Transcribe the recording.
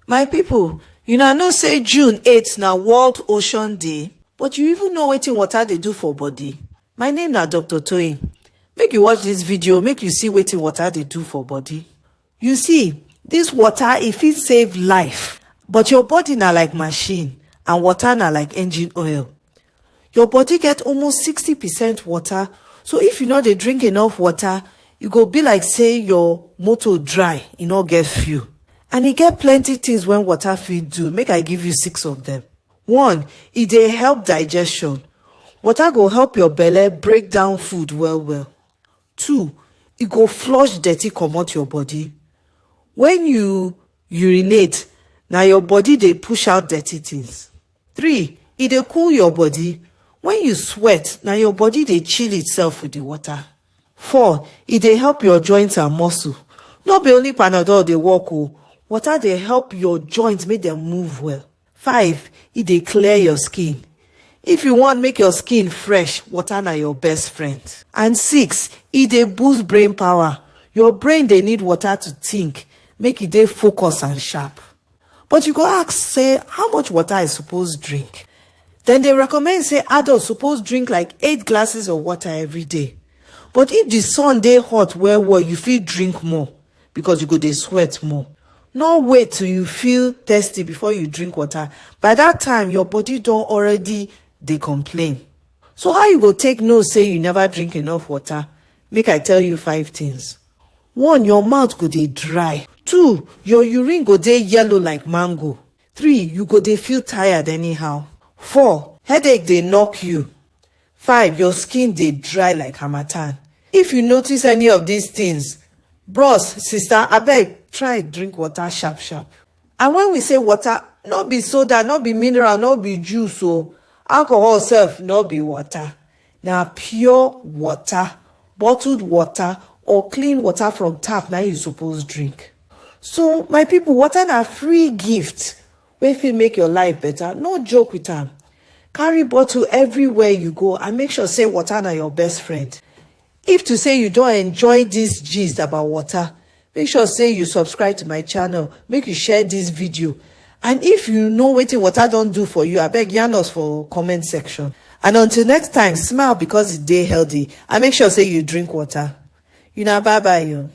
My people, una know say June 8 na World Ocean Day? But you even know wetin water dey do for body? My name na Dr. Toyin. Make you watch this video make you see wetin water dey do for body. You see, this water e fit save life, but your body na like machine and water na like engine oil. Your body get almost 60 percent water so if you no dey drink enough water e go be like say your motor dry e no get fuel and e get plenty things wey water fit do make i give you six of them one e dey help digestion water go help your belle break down food well well two e go flush dirty comot your body when you urinate na your body dey push out dirty things three e dey cool your body when you sweat na your body dey chill itself with the water four e dey help your joint and muscle no be only panadol dey work o water dey help your joint make dem move well five e dey clear your skin if you want make your skin fresh water na your best friend and six e dey boost brain power your brain dey need water to think make e dey focus and sharp. but you go ask say how much water i suppose drink then they recommend say adults suppose drink like eight glasses of water every day but if the sun day hot well well you feel drink more because you go they sweat more no wait till you feel thirsty before you drink water by that time your body don't already they complain so how you go take no say you never drink enough water make i tell you five things One, your mouth go dey dry. Two, your urine go dey yellow like mango. Three, you go dey feel tired anyhow. Four, headache dey knock you. Five, your skin dey dry like harmattan. If you notice any of these things, bros, sista, abeg try drink water sharp sharp. And when we say water, no be soda, no be mineral, no be juice o. Alcohol sef no be water. Na pure water, bottled water or clean water from tap na you suppose drink. So my people, water na free gift wey fit make your life better. No joke with am. Carry bottle everywhere you go and make sure say water na your best friend. If to say you don enjoy this gist about water, make sure say you subscribe to my channel make you share this video and if you know wetin water don do for you abeg yarn us for comment section and until next time smile because e dey healthy and make sure say you drink water una bye bye o.